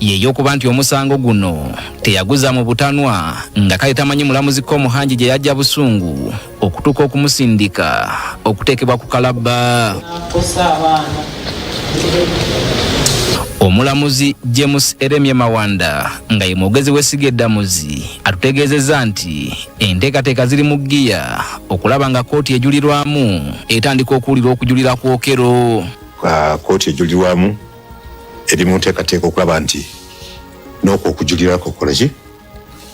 yeyokuba nti omusango guno teyaguza mu butanwa nga kale tamanyi mulamuzi Komuhangi gye yajja busungu okutuuka okumusindika okuteekebwa ku kalabba. Omulamuzi James Eremye Mawanda nga ye mwogezi w'essiga eddamuzi atutegeezezza nti enteekateeka ziri mu ggiya okulaba nga kkooti ejulirwamu etandika okuwulira okujulira ku Okello. Kkooti ejulirwamu eri mu nteekateeka okulaba nti n'okwo okujulira kukola ki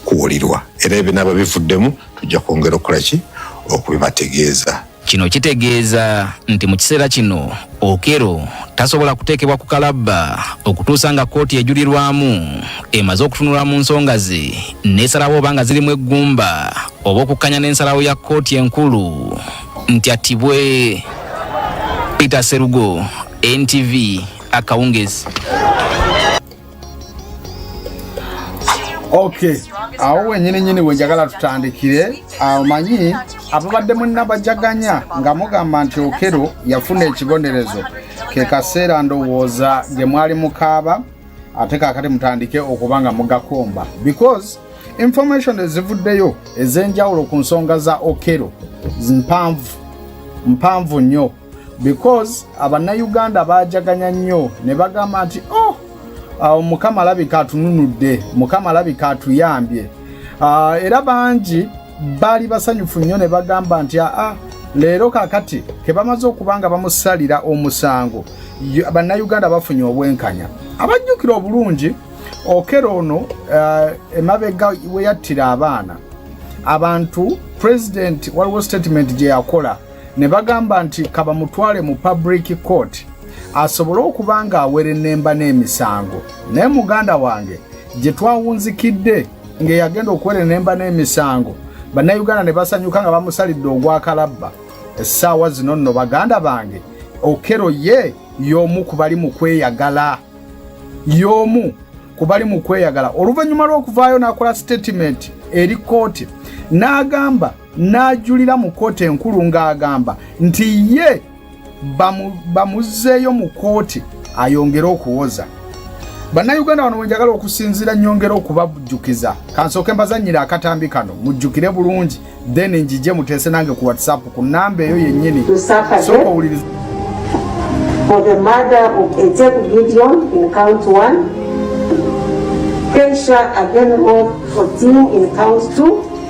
kuwulirwa era ebinaaba bivuddemu tujja kwongera okukola ki okubibategeeza kino kitegeeza nti mu kiseera kino okero tasobola kuteekebwa ku kalabba okutuusa nga kkooti ejulirwamu emaze okutunula mu nsonga ze n'esalawo oba nga zirimu eggumba oba okukkanya n'ensalawo ya kkooti enkulu nti attibwe peter serugo ntv akawungezi ok awo wenyini nyini wenjagala tutandikire amanyi ababadde munabajaganya nga mugamba nti okero yafuna ekibonerezo kekaseera ndowooza gye mwali mukaaba ate kakati mutandike okuba nga mugakomba because information ezivuddeyo ez'enjawulo ku nsonga za okero mpanvu mpanvu nnyo because abannayuganda baajaganya nnyo ne bagamba nti oh awo mukama alabika atununudde mukama alabika atuyambye ah, era bangi baali basanyufu nnyo ne bagamba nti aa ah, ah, leero kakati ke bamaze okuba nga bamusalira omusango bannayuganda bafunye obwenkanya abajjukira obulungi okera ono uh, emabega weyattira abaana abantu pulezidenti waliwo sitatimenti gye yakola ne bagamba nti kabamutwale mu public court asobole okuba ng'awerennemba n'emisango naye muganda wange gye twawunzikidde ng'eyagenda okuwerennemba n'emisango bannayuganda ne basanyuka nga bamusalidde ogwakalabba essaawa zino nno baganda bange okero ye y'omu ku bali mu kweyagala y'omu ku bali mu kweyagala oluvannyuma lw'okuvaayo n'akola sitatimenti eri kkooti n'agamba n'ajulira mu kkooti enkulu ng'agamba nti ye bamuzzeeyo mu kkooti ayongere okuwoza bannayuganda bano bwenjagala okusinziira nyongera okubajjukiza kansooke mbazannyira akatambi kano mujjukire bulungi then njije muteese nange ku whatsapp ku namba eyo yennyini sooka owuliriza For the murder of Ezeku Gideon in count 1, Keisha Agenro 14 in count 2,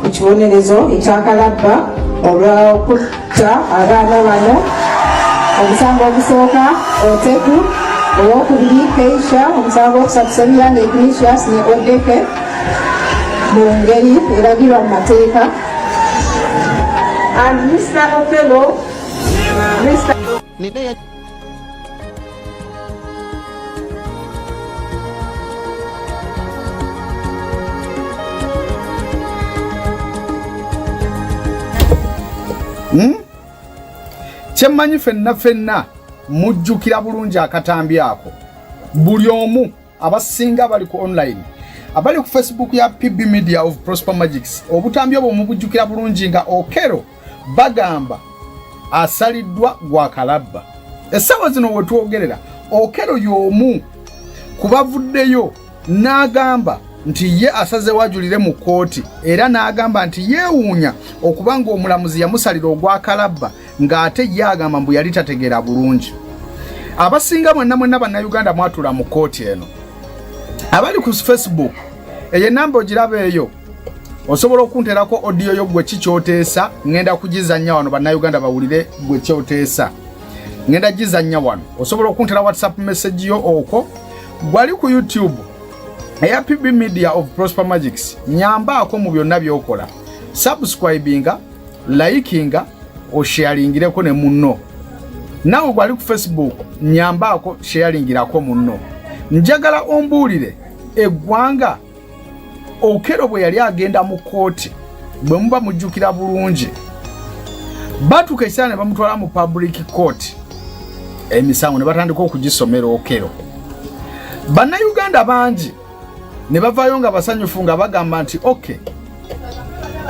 ku kibonerezo ekyakalabba olw'okutta abaana bano omusango ogusooka oteku owokubiri keisha omusango okusatu semiyanga ignatius ne odeke mu ngeri eragirwa mu mateeka and mr opelo mr Hmm? kyemmanyi fenna fenna mujjukira bulungi akatambi ako buli omu abasinga bali ku online abali ku facebook ya pb media of prosper magics obutambi obwo mubujjukira bulungi nga okero bagamba asaliddwa gwa kalabba essaawa zino wetwogerera okero y'omu ku bavuddeyo n'agamba nti ye asaze wajulire mu kkooti era n'agamba nti yeewuunya okuba ng'omulamuzi yamusalira ogwa kalabba ng'ate ye agamba mbu yali tategeera bulungi abasinga mwenna mwenna bannayuganda mwatula mu kkooti eno abali ku facebook eyo enamba ogiraba eyo osobola okunterako odiyo yo gwe kikyoteesa ŋenda kugizannya wano bannayuganda bawulire gwe kyoteesa ŋenda gizannya wano osobola okuntera whatsapp message yo okwo gwali ku youtube eya pb media of prosper magics nyambaako mu byonna byokola subscribinga layikinga osheyaringireko ne munno nawe gwali ku facebook nyambaako sheyaringirako munno njagala ombuulire eggwanga okero bwe yali agenda mu kooti bwe muba mujjukira bulungi batuuka ekisaala ne bamutwala mu public court emisango ne batandika okugisomera okero bannayuganda bangi ne bavaayo nga basanyufu nga bagamba nti oke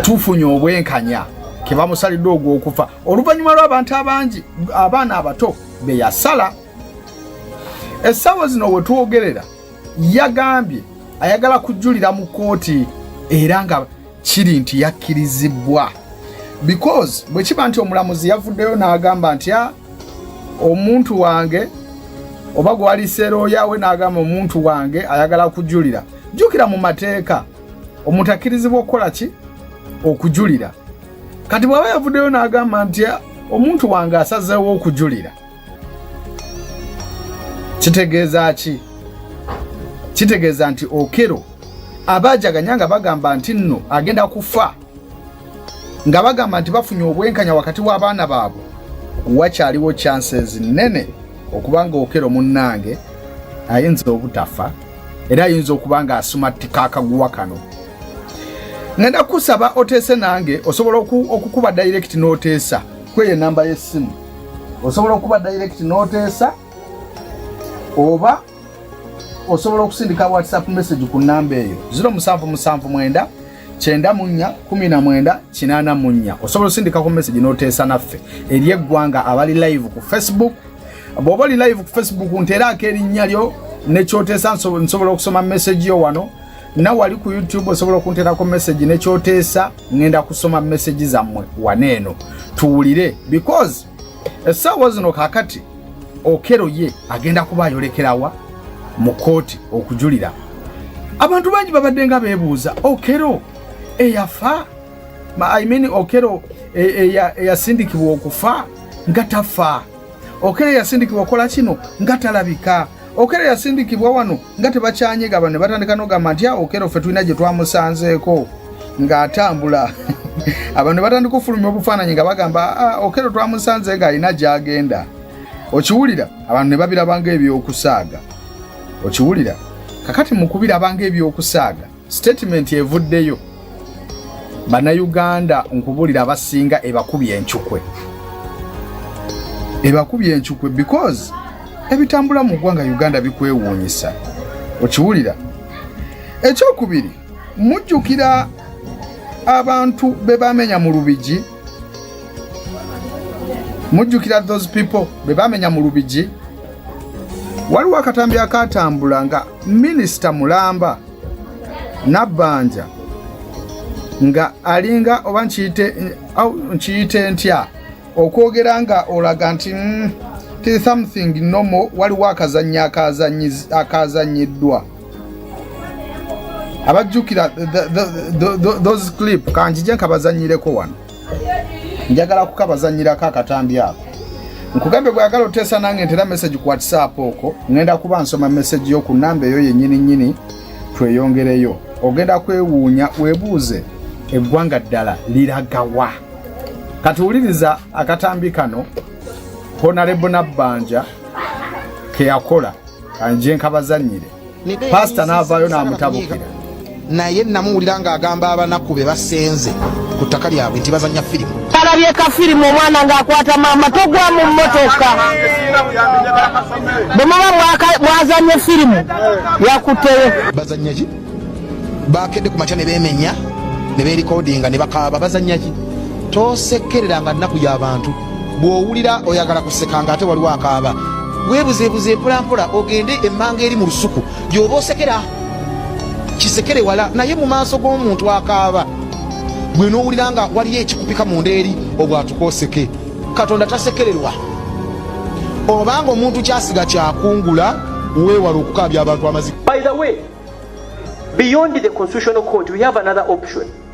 tufunye obwenkanya ke bamusalidde ogw'okufa oluvannyuma lw'abantu abangi abaana abato be yasala essaawa zino we twogerera yagambye ayagala kujulira mu kkooti era nga kiri nti yakkirizibbwa because bwe kiba nti omulamuzi yavuddeyo n'agamba nti ah, omuntu wange oba gwaliseerooya we n'agamba omuntu wange ayagala kujulira jjukira mu mateeka omuntu akkirizibwa okukola ki okujulira kati bw'aba yavuddeyo n'agamba nti ah, omuntu wange asazeewo okujulira kitegeeza ki kitegeeza nti okero abajaganya nga bagamba nti nno agenda kufa nga bagamba nti bafunye obwenkanya wakati w'abaana baabwe wakyaliwo chances nene okuba nga okero munnange ayinza obutafa era ayinza okuba nga asumattika akaguwa kano ngenda kusaba oteese nange osobola okukuba direct n'oteesa kweyo enamba y'essimu osobola okuba direct n'oteesa oba osobola okusindika whatsapp message ku namba eyo 0779 kyenda munya kumi na mwenda kinana munya osobola osindikako message noteesa naffe eri eggwanga abali live ku facebook bwoba oli live ku facebook nteeraako erinnya lyo nekyoteesa nsobola okusoma message yo wano nawe ali ku youtube osobola okunterako message nekyoteesa ngenda kusoma message zammwe waneeno tuwulire because essaawa zino kakati okero ye agenda kuba ayolekerawa mu kooti okujulira abantu bangi babadde nga beebuuza okero eyafa I mean okero eyasindikibwa okufa nga tafa Okere yasindikibwa okola kino nga talabika. Okere yasindikibwa wano nga tebakyanyega bano ne batandika n'ogamba nti awo Okere ffe tulina gye twamusanzeeko ng'atambula abantu ne batandika okufulumya obufaananyi nga bagamba ah, Okere twamusanze ng'alina gy'agenda. Okiwulira abantu ne babiraba ng'eby'okusaaga. Okiwulira kakati mu kubiraba ng'eby'okusaaga. Statement evuddeyo banayuganda nkubulira abasinga ebakubye encukwe ebakubye encukwe because ebitambula mu ggwanga uganda bikwewuunyisa okiwulira ekyokubiri mujjukira abantu be bamenya mu lubigi mujjukira those people be bamenya mu lubigi waliwo akatambi akatambula nga minisita mulamba Nabbanja nga alinga oba nkiyite ntya okwogera nga olaga nti mm, ti something nomo waliwo akazannyo akazannyiddwa abajjukira those clip kanjije nkabazanyireko wano njagala kukabazanyirako akatambi ako nkugambye bwagala oteesa nange ntera message ku whatsapp oko ngenda kuba nsoma message yo ku namba eyo yenyini nyini tweyongereyo ogenda kwewuunya webuuze eggwanga ddala liragawa kati wuliriza akatambi kano honalebo nabbanja keyakola anje nkabazanyire pasita n'avaayo n'amutabukira naye namuwulira ng'agamba abanaku be basenze ku ttaka lyabwe nti bazanya firimu alabye ka firimu omwana ng'akwata maama togwa mu mmotoka bwe muba mwazanye firimu yakutteyo bazanya ki baakedde ku makya ne beemenya ne beerikodinga ne bakaaba bazanya ki tosekerera nga nnaku y'abantu bw'owulira oyagala kuseka nga ate waliwo akaaba weebuzeebuze empolampola ogende emmanga eri mu lusuku gy'oba osekera kisekere wala naye mu maaso g'omuntu akaaba gwe n'owulira nga waliyo ekikupika mu nda eri obwatukooseke katonda tasekererwa obanga omuntu kyasiga kyakungula weewala okukaabya abantu amazima beyond the constitutional court we have another option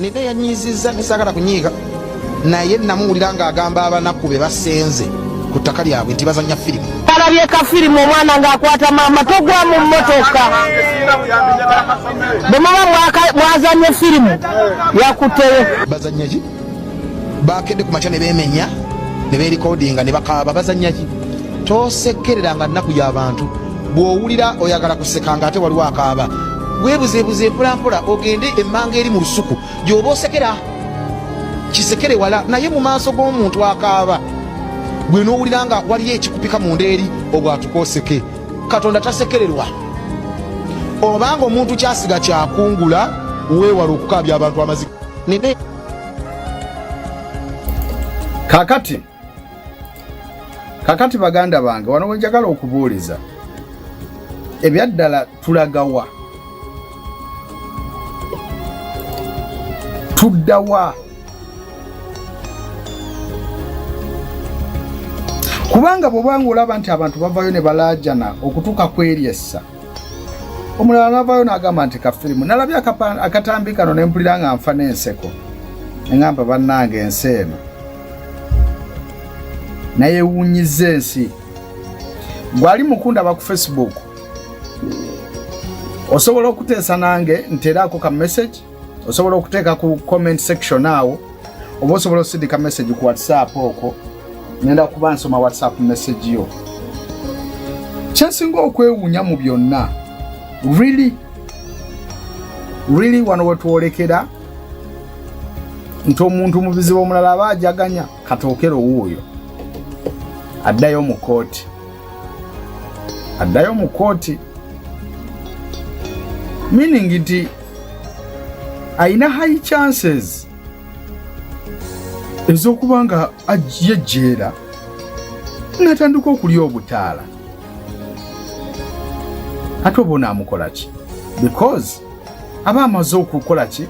Nina yanyiizizza ne saagala kunyiiga naye namuwulira ng'agamba abanaku be basenze ku ttaka lyabwe nti bazannya firimu. Balabye ka firimu omwana ng'akwata maama togwa mu mmotoka. Bwe muba mwazannye firimu yakutteyo. Bazannya ki? bakedde ku makya ne beemenya ne beerikodinga ne bakaaba bazannya ki tosekereranga nnaku y'abantu bw'owulira oyagala kuseka nga ate waliwo akaaba weebuzeebuze mpolampola ogende emmanga eri mu lusuku gy'oba osekera kisekere wala naye mu maaso g'omuntu akaaba gwe n'owulira nga waliyo ekikupika mu nda eri obwatuka oseke katonda tasekererwa obanga omuntu kyasiga kyakungula weewala okukaabya abantu amazika nini? Kakati kakati baganda bange wano wenjagala okubuuliza ebyaddala tulagawa tuddawa kubanga bwobanga olaba nti abantu bavayo ne balaajana okutuuka kweryessa omulala navaayo nagamba nti kafirimu nalabye akatambi kano nempulira nga nfa n'enseko engamba bannange ensi eno naye ewunyiza ensi gwali mukundaba ku facebook osobola okuteesa nange nteeraako ka message osobola okuteeka ku comment section awo oba osobola okusindika message ku whatsapp okwo ngenda kuba nsoma whatsapp message yo kyensinga okwewuunya mu byonna really really wano wetwolekera nti omuntu mu bizibu omulala aba ajaganya katookero wuuyo addayo mu kooti addayo mu kooti meaning nti alina high chances ez'okuba nga yejjeera natandika okulya obutaala ate oba onaamukola ki because aba amaze okukola ki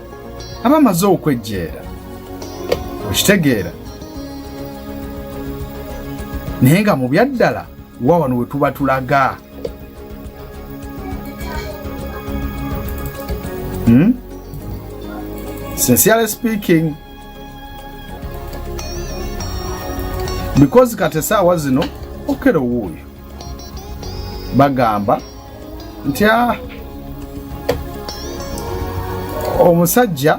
aba amaze okwejjeera okitegeera naye nga mu byaddala wa wano we tuba tulaga Hmm? Sincerely speaking because kati esaawa zino okero wuuyo bagamba nti ah, omusajja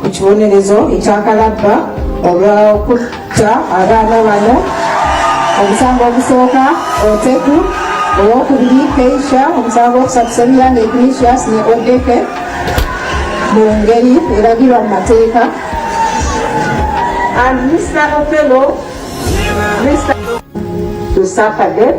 ku kibonerezo ekyakalabba olw'okutta abaana bano omusango ogusooka oteku owokubiri keisha omusango okusatu semiyanga ignatius ne odeke mu ngeri eragirwa mu mateeka and mr ofello mr to suffer death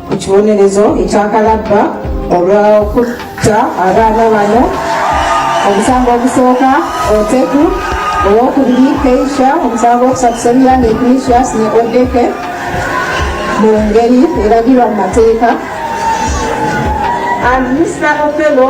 ku kibonerezo ekyakalabba olw'okutta abaana bano omusango ogusooka oteku owokubiri keisha omusango okusatu semilani ignatius ne odeke mu ngeri eragirwa mu mateeka and mr opelo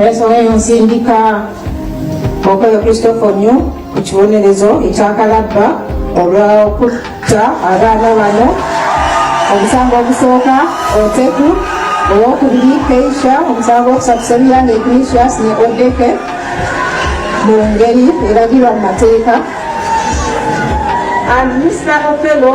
Wesobola nsindika Okoyo Christopher Onyu ku kibonerezo ekyakalabba olw'okutta abaana bano omusango ogusooka Oteku owokubiri Keisha omusango okusatu Semilanga Ignatius ne Odeke mu ngeri eragirwa mu mateeka and Mr. Okello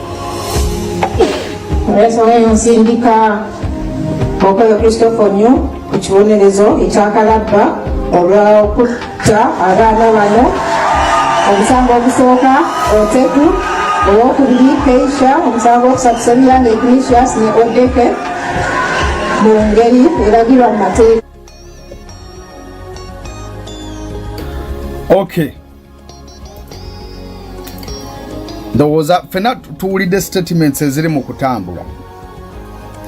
Yesu weyo nsindika Okoyo Christopher Onyo ku kibonerezo ekyakalabba olw'okutta abaana bano omusango ogusooka oteku owokubiri keisha omusango okusatu semiyanga ignatius ne odeke mu ngeri eragirwa mu mateeka okay ndowooza fena tuwulidde statements eziri mu kutambula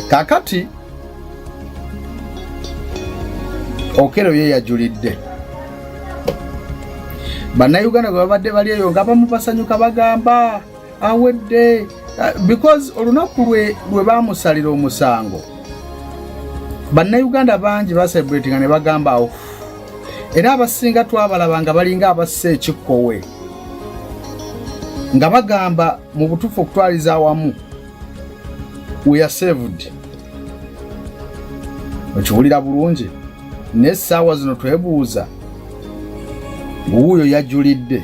kakati okero ye yajulidde bannayuganda bwe babadde bali eyo nga bamu basanyuka bagamba awedde uh, because olunaku lwe lwe baamusalira omusango bannayuganda bangi basebretinga ne bagamba awo era abasinga twabalaba nga balinga abassa ekikkowe nga bagamba mu butuufu okutwaliza awamu weyasevud okiwulira bulungi naye essaawa zino twebuuza wuuyo yajulidde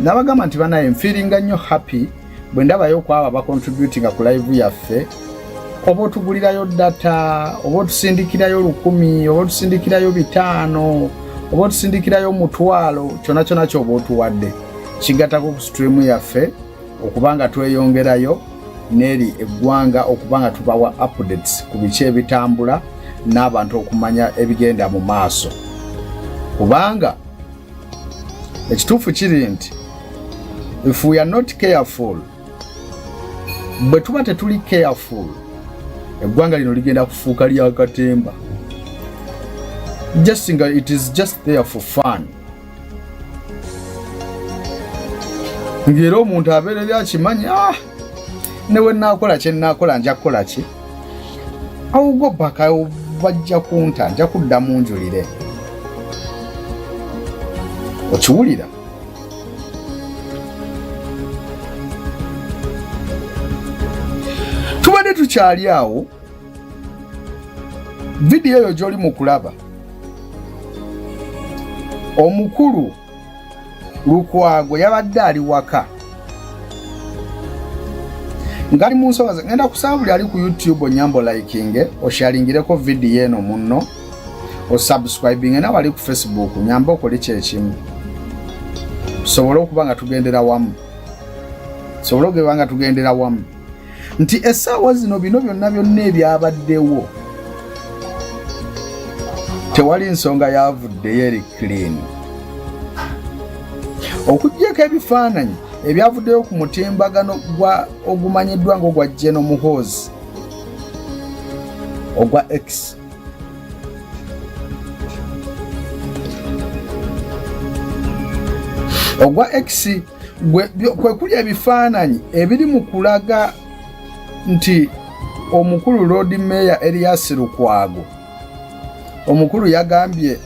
nabagamba nti banaye mfiringa nnyo happy bwe ndabayo okwabo abacontributinga ku live yaffe oba otugulirayo data oba otusindikirayo lukumi oba otusindikirayo bitaano oba otusindikirayo mutwalo kyona kyona kyoba otuwadde kigatako ku streamu yaffe okuba nga tweyongerayo neri eggwanga okuba nga tubawa updates ku biki ebitambula n'abantu okumanya ebigenda mu maaso kubanga ekituufu kiri nti if we are not careful bwe tuba tetuli careful eggwanga lino ligenda kufuuka lya katemba just nga it is just there for fun ng'era omuntu abeerera akimanyi ah! newe nakola kye nakola nja kukola ki awugo baka bajja kunta nja kudda munjulire okiwulira tubadde tukyali awo vidiyo eyo gyoli mu kulaba omukulu lukwago yabadde ali waka ngali mu nsonga ze ngenda kusaba buli ali ku youtube onyambo likinge osharingireko vidiyo eno munno osubscribinge nawe ali ku facebook nyamba okole kyekimu tusobole okuba nga tugendera wamu tusobole okuba nga tugendera wamu nti essaawa zino bino byonna byonna ebyabaddewo tewali nsonga yavuddeyo eri clean okugyeko ebifaananyi ebyavuddeyo ku mutimbagano gwa ogumanyiddwa ng'ogwa geno muhoozi ogwa x ogwa x kwe kuli ebifaananyi ebiri mu kulaga nti omukulu Lord Mayor Erias Lukwago omukulu yagambye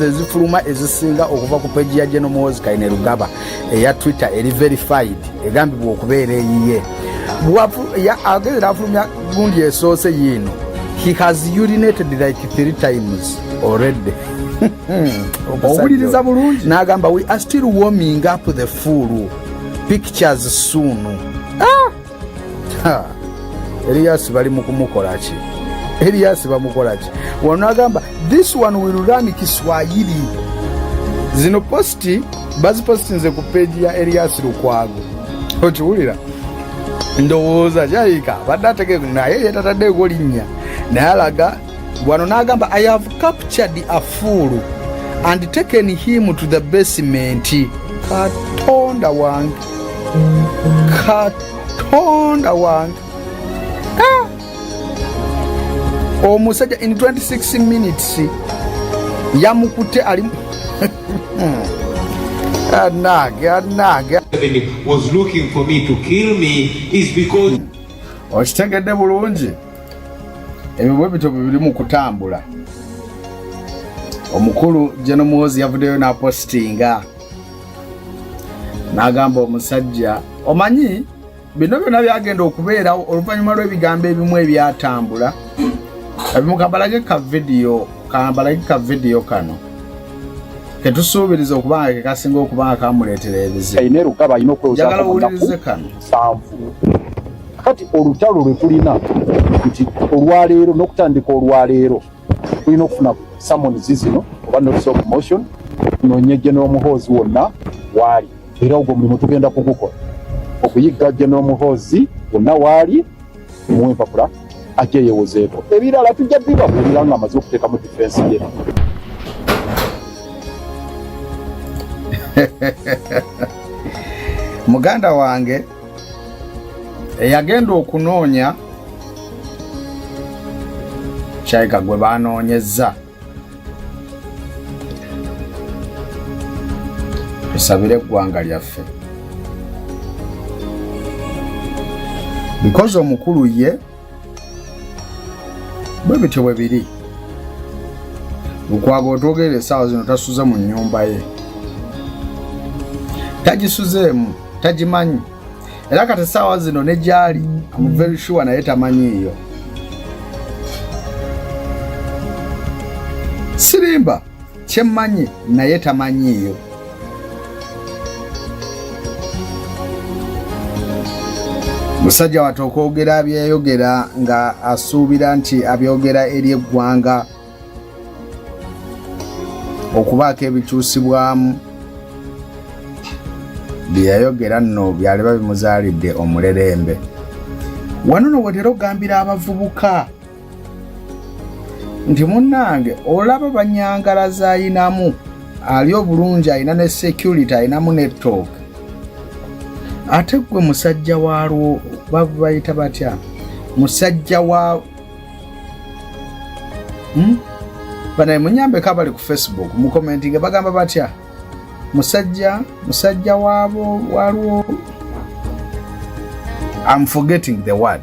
ezifuluma ezisinga okuva ku peji ya General Muhoozi Kainerugaba eya Twitter eri verified egambibwa okubeera eyiye agezera afulumya gundi esoose yiino he has urinated like three times already owuliriza bulungi n'agamba we are still warming up the full pictures soon Elias bali mu kumukola ki? Elias bamukola ki? Wano agamba this one will run Kiswahili. Zino posti bazipostinze ku peji ya Elias Lukwago. Okiwulira? Ndowooza kyayika badde ategeeku naye yetataddeeko linnya naye alaga wano n'agamba i have captured a fool and taken him to the basement katonda wange katonda wange ah! omusajja in 26 minutes yamukute ali anage anage okitegedde bulungi ebyo bwe bityo bibiri mu kutambula omukulu jeno muhozi yavuddeyo n'apositinga n'agamba omusajja omanyi bino byonna byagenda okubeerawo oluvannyuma lw'ebigambo ebimu ebyatambula ebimu kambalage ka vidiyo kambalage ka vidiyo kano ketusuubiriza okuba nga kekasinga okuba nga kamuleetera ebizibu njagala owulirize kano kati olutalo lwe tulina nti olwaleero n'okutandika olwaleero tulina okufuna samonzi zino oba notice of motion tunoonye general muhoozi wonna waali era ogwo mulimu tugenda kugukola okuyigga general muhoozi wonna waali muwa empapula ajja yewozeeko ebirala tujja bibabuulira nga amaze okuteeka mu difensi ye muganda wange eyagenda okunoonya kyaika gwe banoonyezza tusabire eggwanga lyaffe bikozi omukulu ye bwe bityo bwe biri mukwaba otwogerera essaawa zino tasuza mu nnyumba ye tagisuzeemu tagimanyi era kati essaawa zino ne gyali amuvery sure naye tamanyiiyo sirimba kyemmanyi naye tamanyiiyo musajja watu okwogera byeyogera nga asuubira nti abyogera eri eggwanga okubaako ebikyusibwamu byeyayogera nno byaliba bimuzaalidde omulerembe wano no wetera okugambira abavubuka nti munnange olaba banyangala zayinamu ali obulungi alina ne security alinamu netooke ate gwe musajja walwo babayita batya musajja wa hmm? banaye munyambeko abali ku facebook mukomenti nga bagamba batya musajja musajja wabo walwo am forgetting the word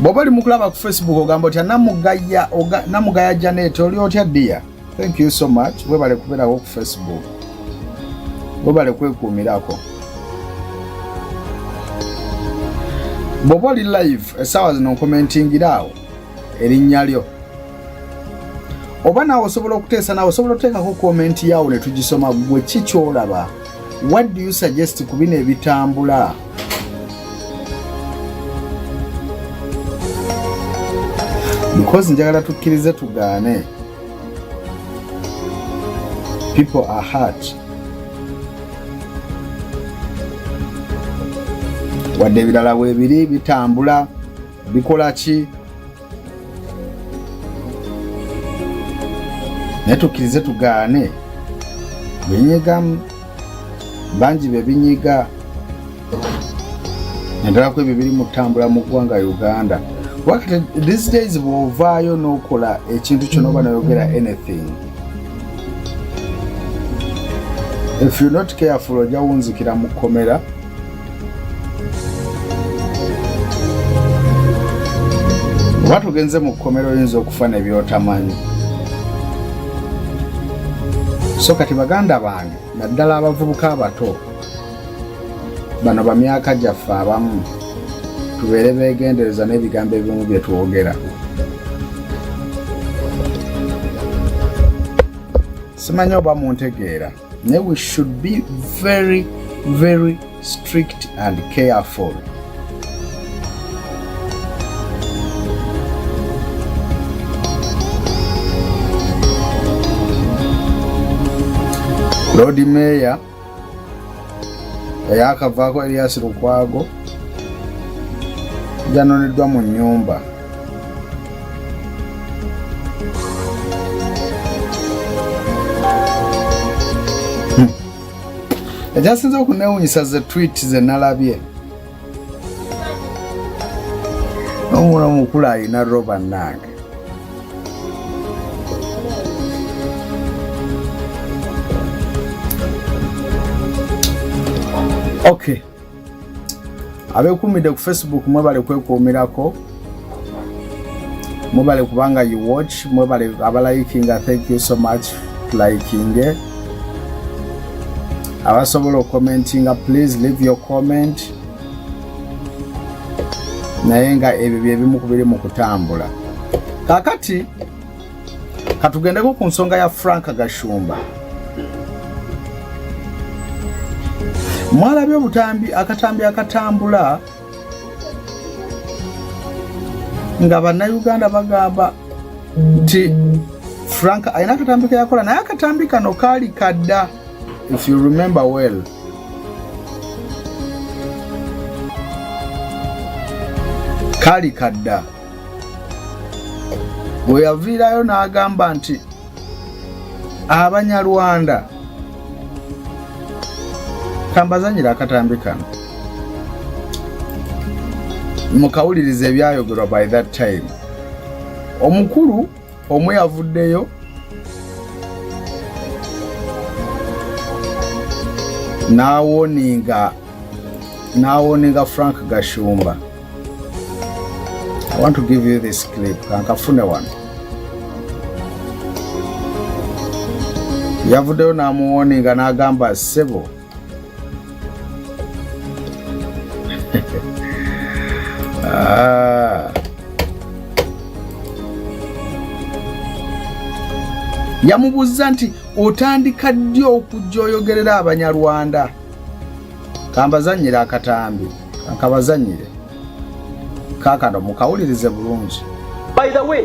bwoba oli mukulaba ku facebook ogamba otya namugaya namugaya janet oli otya dia thank you so much webale kubeerawo ku facebook webale kwekuumirako bwoba oli live esaawa zino nkomentingira awo erinnya lyo oba naawe osobola okuteesa naawe osobola oteekako komenti yaawo ne tugisoma gwe ki kyolaba what do you suggest ku bino ebitambula mukozi njagala tukkirize tugaane people are hurt wadde ebirala weebiri bitambula bikola ki naye tukkirize tugaane binyigamu bangi bebinyiga naddala ku ebyo biri mu ttambula mu ggwanga uganda wakati these days bwovaayo n'okola ekintu kyona oba noyogera anything if you not careful ojja wunzikira mu kkomera oba tugenze mu kkomera oyinza okufa nebyotamanyi so kati baganda bange naddala abavubuka abato bano bamyaka gyaffe abamu tubeere begendereza n'ebigambo ebimu bye twogera simanyi oba muntegeera They we should be very very strict and careful. Lord Mayor eyakavaako Elias Lukwago yanoneddwa mu nyumba ekyasinze okunewunyisa ze twit ze nalabye omula omukulu alina roba nange okay abekuumidde ku facebook mwebale kwekuumirako mwebale kubanga you watch mwebale abalayikinga thank you so much likinge abasobola okukomentinga please leave your comment naye nga ebyo byebimu kubiri mu kutambula kakati katugendeko ku nsonga ya frank gashumba mwalabye obutambi akatambi akatambula nga bannayuganda bagamba nti frank alina akatambi keyakola naye akatambi kano kaali kadda if you remember well kaali kadda bwe yaviirayo n'agamba nti abanyarwanda kambazanyira akatambi kano mukawuliriza ebyayogerwa by that time omukulu omu yavuddeyo n'awoninga n'awoninga frank gashumba i want to give you this clip kankafune wano yavuddeyo n'amuwoninga n'agamba ssebo Ah. yamubuuzza nti otandika ddi okujja oyogerera abanyarwanda kambazanyire akatambi akabazanyire kakano mukawulirize bulungi by the way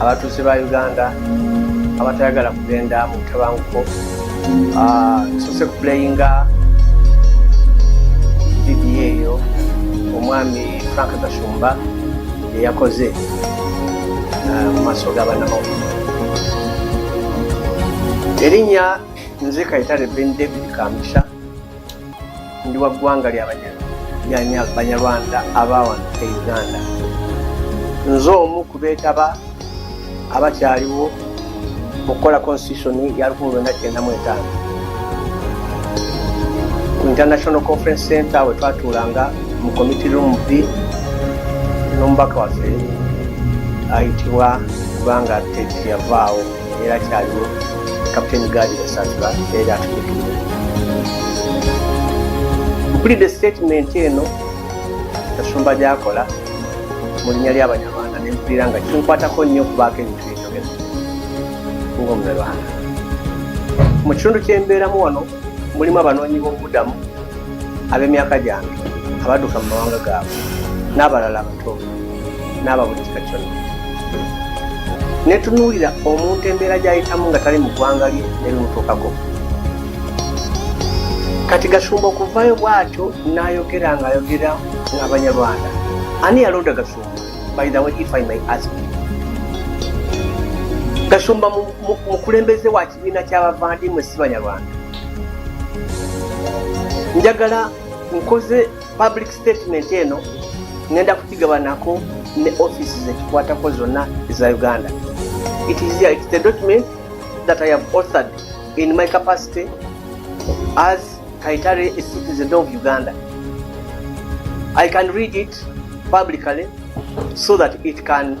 abatuuze ba uganda abatayagala kugenda mu butabanguko ah, tusose kuplayinga vidiyo eyo omwami frank gashumba eyakoze ah, mu maaso g'abanamawulire erinnya nze kayitale ben david kamisha ndi wa ggwanga lya banyarwanda abawano e uganda nze omu ku beetaba abakyaliwo mu kukola constitution ya 1995 ku international conference center we twatuulanga mu committe room b n'omubaka waffe ayitibwa kubanga teti yavaawo era kyaliwo kapiteni gaadi yasanzula era atukiikirira mpulidde sitatimenti eno kasumba gyakola mu linnya ly'abanyarwanda ne mpulira nga kinkwatako nnyo okubaako ebintu byenjogera ng'omunyarwanda mu kitundu ky'embeeramu wano mulimu abanoonyi b'obubudamu ab'emyaka gyange abadduka mu mawanga gaabwe n'abalala abato n'aba buli kika kyonna netunuulira omuntu embeera gy'ayitamu nga tali mu ggwanga lye nebimutuukako kati gasumba okuvayo bwatyo n'ayogera ng'ayogera ng'abanyarwanda ani yalonda gasumba by the way if i may ask gasumba mukulembeze waki Ekibiina ky'abavandimwe si Banyarwanda. Njagala nkoze public statement eno ngenda kukigabanako ne office zekikwatako zonna eza Uganda. It is, it is the document that I have authored in my capacity as Kaitare, a citizen of Uganda. I can read it publicly so that it can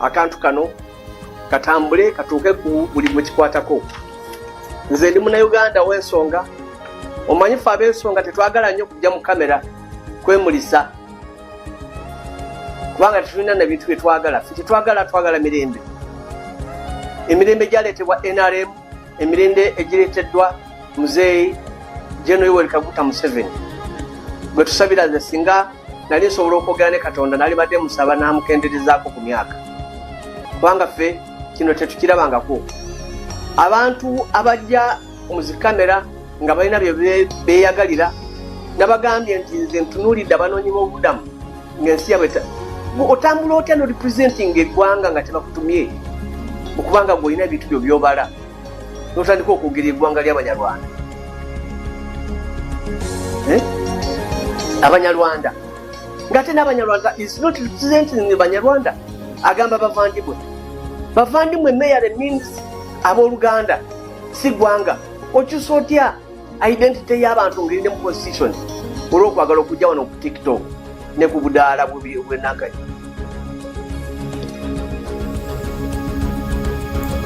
akantu kano katambule katuuke ku buli gwe kikwatako nze ndi munauganda w'ensonga omanyi fe ab'ensonga tetwagala nnyo kujja mu kamera kwemulisa kubanga tetulina na bintu bye twagala fe tetwagala twagala mirembe emirembe gyaleetebwa nrm emirembe egireeteddwa muzeeyi jeno yoweri kaguta museveni gwe tusabira ze singa nali nsobola okwogera ne katonda nali badde musaba n'amukenderezaako ku myaka kubanga ffe kino tetukirabangako abantu abajja mu zikamera nga balina bye beeyagalira nabagambye nti nze ntunuulidde abanoonyi b'obubudamu ngensi yabwe otambula otya no representing eggwanga nga tebakutumye okubanga gweolina ebintu byo byobala notandika okwogera eggwanga lyabanyarwanda eh? abanyarwanda ngate nabanyarwanda is not representing banyarwanda agamba bavandimwe bavandimwe meyare means aboluganda si gwanga okyusa otya identity y'abantu ngeri ne mu constitution olw'okwagala okujja wano ku tiktok ne ku budaala bwenaganya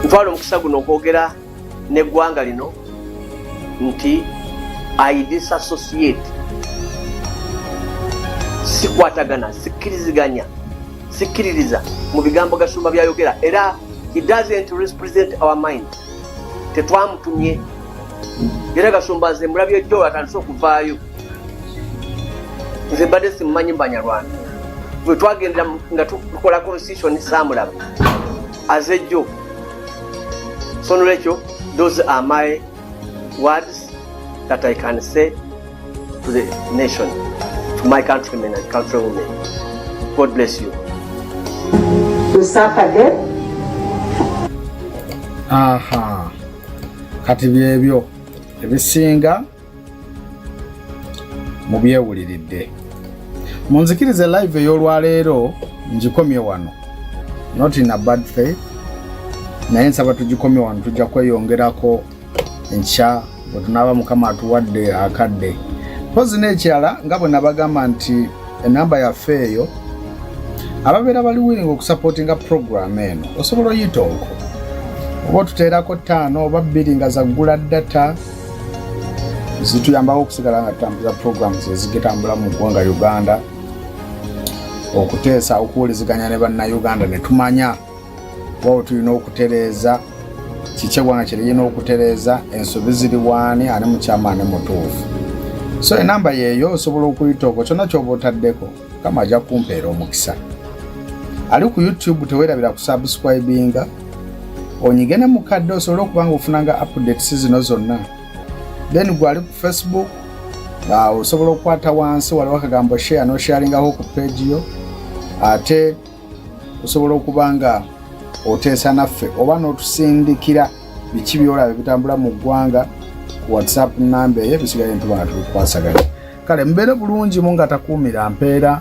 ntwala omukisa guno okwogera n'eggwanga lino nti i disassociate sikwatagana sikkiriziganya sikkiririza mu bigambo gasumba byayogera era he doesn't represent our mind tetwamutumye era gashumba nze mulabye jjo atandise okuvaayo nze mbadde simumanyi mu banyarwanda bwe twagenda nga tukola constitution saamulaba aze jjo so nolwekyo those are my words that i can say to the nation to my countrymen and country women god bless you to suffer death aha kati byebyo ebisinga mubyewuliridde munzikirize live ey'olwaleero ngikomye wano not in a bad faith naye nsaba tugikomye wano tujja kweyongerako enkya bwe tunaaba mukama atuwadde akadde mpozi n'ekirala nga bwe nabagamba nti enamba yaffe eyo ababeera bali willing okusapootinga program eno osobola oyita okwo oba otuteerako ttaano oba bbiri nga zaggula data zituyambako okusigala nga tutambuza program zezigitambula mu ggwanga uganda okuteesa okuwuliziganya ne bannayuganda ne tumanya wao tulina okutereeza kiki eggwanga kyeriyina okutereeza ensobi ziri waani ani mukyama ani mutuufu so enamba yeeyo osobola okuyita okwo kyonna kyoba otaddeko kama ajja kumpeera omukisa ali ku youtube tewerabira kusubscribinga onyige ne mukadde osobole okuba nga ofunanga updates zino zonna then gwe ali ku facebook osobola okukwata wansi waliwo akagambo share nosharingaho ku page yo ate osobola okuba nga oteesa naffe oba n'otusindikira biki byolaba ebitambula mu ggwanga ku whatsapp namba eyo ebisigaye ntubanga tubikwasaganya kale mubeere bulungi mu nga takuumira mpeera